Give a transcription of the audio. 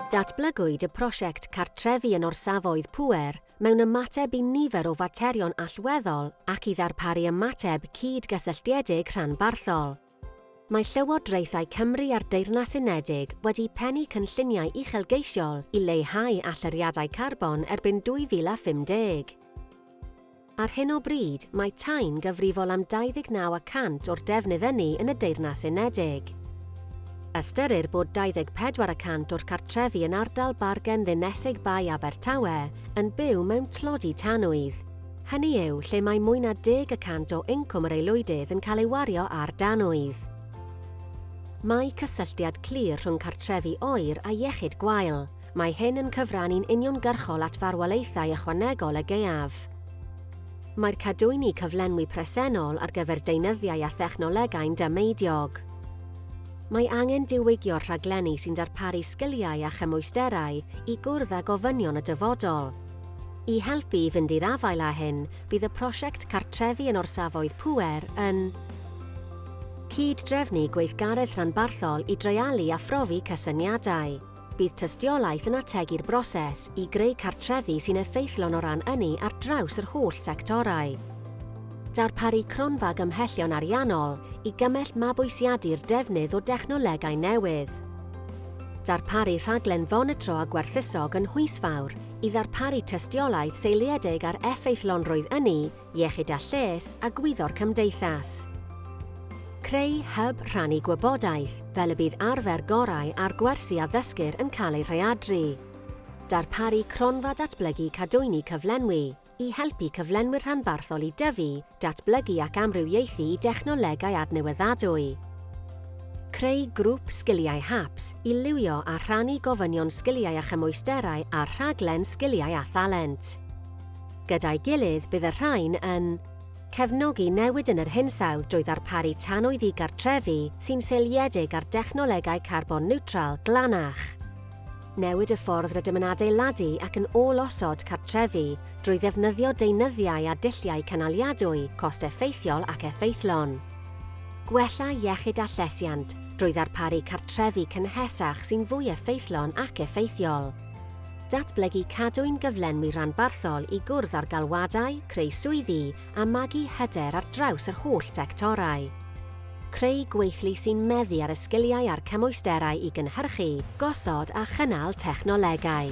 Datblygwyd y prosiect cartrefi yn orsafoedd pŵer mewn ymateb i nifer o faterion allweddol ac i ddarparu ymateb cyd-gysylltiedig rhanbarthol. Mae Llywodraethau Cymru a'r Deyrnas Unedig wedi pennu cynlluniau uchelgeisiol i leihau allyriadau carbon erbyn 2050. Ar hyn o bryd, mae Tyne'n gyfrifol am 29 y cant o'r defnydd ynni yn y Deyrnas Unedig. Ystyrir bod 24 y cant o'r cartrefi yn ardal Bargen Ddinesig Bae Abertawe yn byw mewn tlodi tanwydd, hynny yw, lle mae mwy na deg y cant o incwm yr aelwydydd yn cael ei wario ar danwydd. Mae cysylltiad clir rhwng cartrefi oer a iechyd gwael, Mae hyn yn cyfrannu'n uniongyrchol at farwolaethau ychwanegol y gaeaf. Mae'r cadwyni cyflenwi presennol ar gyfer deunyddiau a thechnolegau'n dameidiog. Mae angen diwygio'r rhaglenni sy'n darparu sgiliau a chymwysterau i gwrdd â gofynion y dyfodol. I helpu i fynd i'r afael â hyn, bydd y prosiect Cartrefi yn Orsafoedd Pŵer yn cyd-drefnu gweithgaredd rhanbarthol i dreialu a phrofi cysyniadau. Bydd tystiolaeth yn ategu'r broses i greu cartrefi sy'n effeithlon o ran ynni ar draws yr holl sectorau. Darparu cronfa gymhellion ariannol i gymell mabwysiadu'r defnydd o dechnolegau newydd. Darparu rhaglen fonitro a gwerthusog yn Nhwysfawr i ddarparu tystiolaeth seiliedig ar effeithlonrwydd ynni Iechyd a Lles a Gwyddor Cymdeithas. Creu hyb rhannu gwybodaeth fel y bydd arfer gorau a'r gwersi a ddysgir yn cael eu rhaeadru. Darparu cronfa datblygu cadwyni cyflenwi i helpu cyflenwyr rhanbarthol i dyfu, datblygu ac amrywiaethu i dechnolegau adnewyddadwy. Creu grŵp sgiliau HAPS i liwio a rhannu gofynion sgiliau a chymwysterau a'r rhaglen Sgiliau a Thalent. Gyda'i gilydd bydd y rhain yn cefnogi newid yn yr hinsawdd drwy ddarparu tanwy ddigartrefu sy'n seiliedig ar dechnolegau carbon niwtral glanach, newid y ffordd rydym yn adeiladu ac yn ôl-osod cartrefi drwy ddefnyddio deunyddiau a dulliau cynaliadwy cost-effeithiol ac effeithlon, gwella iechyd a llesiant drwy ddarparu cartrefi cynhesach sy'n fwy effeithlon ac effeithiol. Datblygu Cadwyn gyflenwi rhanbarthol i gwrdd â'r galwadau, creu swyddi, a magu hyder ar draws yr holl sectorau. Creu gweithlu sy'n meddu ar y sgiliau a'r cymwysterau i gynhyrchu, gosod a chynnal technolegau.